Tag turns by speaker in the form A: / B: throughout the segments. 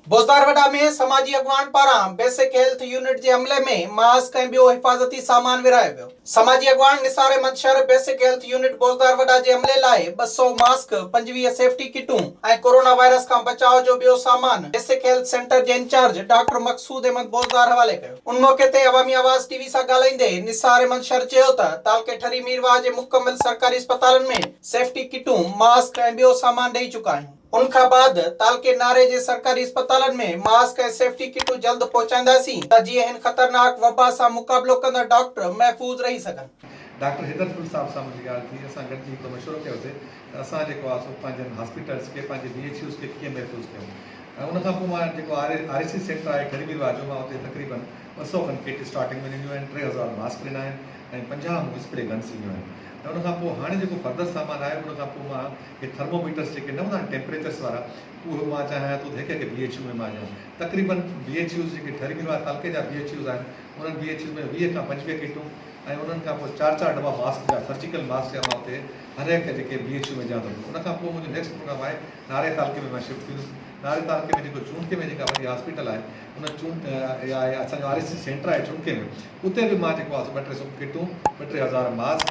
A: بوزدار وڏا ۾ سماجي اڳواڻ پاران بيسڪ هيلٿ يونٽ جي عملي ۾ ماسڪ ۽ ٻيو حفاظتي سامان ورهايو ويو. سماجي اڳواڻ Nisar Ahmed Shar basic health unit Bozdar Wada جي عملي لاء ٻه سؤ ماسڪ، پنجويهه سيفٽي ڪٽون ۽ ڪورونا وائرس کان بچاء جو ٻيو سامان بيسڪ هيلٿ سينٽر جي انچارج ڊاڪٽر مقصود احمد بوزدار حوالي ڪيو. ان موقعي تي عوامي آواز ٽي وي سان ڳالهائيندي نثار احمد شر چيو ته تعلقي ٺري ميرواهه جي مڪمل سرڪاري اسپتالن ۾ سيفٽي ڪٽون، ماسڪ ۽ ٻيو سامان ڏئي چڪا آهيون. ان کان بعد تعلقي ناري جي سرڪاري اسپتالن ۾ ماسڪ ۽ سيفٽي ڪٽون جلد پهچائينداسين ته جيئن هن خطرناڪ وبا سان مقابلو ڪندڙ ڊاڪٽر محفوظ رهي سگهن. ڊاڪٽر حيدر پنڊ
B: صاحب سان منهنجي ڳالهه ٿي، اسان گڏجي هڪڙو مشورو ڪيوسي ته اسان جيڪو آهي سو پنهنجن هاسپيٽلز کي پنهنجي بي ايڇ يوز کي ڪيئن محفوظ ڪيون ۽ ان کان پوء مان جيڪو آر اي سي سينٽر آهي ٺري بيرواهه جو مان اتي تقريبن ٻه سؤ کن ڪٽ اسٽارٽنگ ۾ ڏنيون آهن، ٽي هزار ماسڪ ڏنا آهن. ۽ پنجاهه مون کي اسپري گنس ڏنيون آهن ۽ ان کان پوء هاڻي جيڪو فردر سامان آهي ان کان پوء مان هي ٿرموميٽرس جيڪي نه هوندا آهن ٽيمپريچرس وارا اهي مان چاهيان ٿو ته هڪ هڪ بي ايڇ يو ۾ مان ڏيان تقريباً بي ايڇ يوز جيڪي ٺري مير وارا تعلقي جا بي ايڇ يوز آهن انهن بي ايڇ يوز ۾ ويهه کان پنجويهه ڪٽون ۽ انهن کان پوء چار چار دٻا ماسڪ جا سرجيڪل ماسڪ جا مان اتي هر هڪ جيڪي بي ايڇ يو ۾ ڏيان ٿو ان کان پوء منهنجو نيڪسٽ پروگرام آهي ناري تعلقي ۾ مان شفٽ ٿيندس ناري تعلقي ۾ جيڪو چونٽي ۾ جيڪا وڏي هاسپيٽل آهي ان چون اها آهي اسان جو آر ايس سي سينٽر آهي چونڪي ۾ اتي به مان جيڪو آهي سو ٻه ٽي سو ڪٽون ٻه ٽي هزار ماسڪ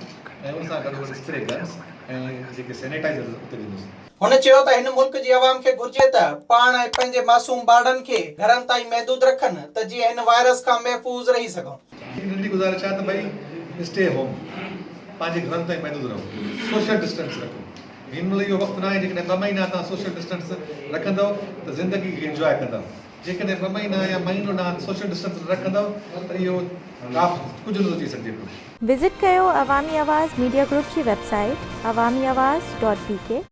B: ۽ ان سان گڏو گڏ اسپري گنز ۽ جيڪي سينيٽائزر اتي ڏنس. هن چيو ته هن
A: ملڪ جي عوام کي گهرجي ته پاڻ ۽ پنهنجي معصوم ٻارڙن کي گهرن تائين محدود رکن ته جيئن هن وائرس کان محفوظ رهي سگهون. هڪ ننڍي گذارش آهي
B: ته ڀئي اسٽي هوم پنهنجي گهرن تائين محدود رهو سوشل ڊسٽنس رکو. هن مهل اهو وقت ناهي جيڪڏهن ٻه مهينا توهان سوشل ڊسٽنس رکندؤ ته زندگي کي انجواء ڪندؤ جيڪڏهن ٻه مهينا يا مهينو ڏانهن سوشل ڊسٽنس نه رکندؤ ته اهو ڪاف ڪجهه نه سوچي سگهجي پيو. وزٽ ڪيو
C: عوامي آواز ميڊيا گروپ جي web
B: site
C: Awami Awaz dot بي ڪي.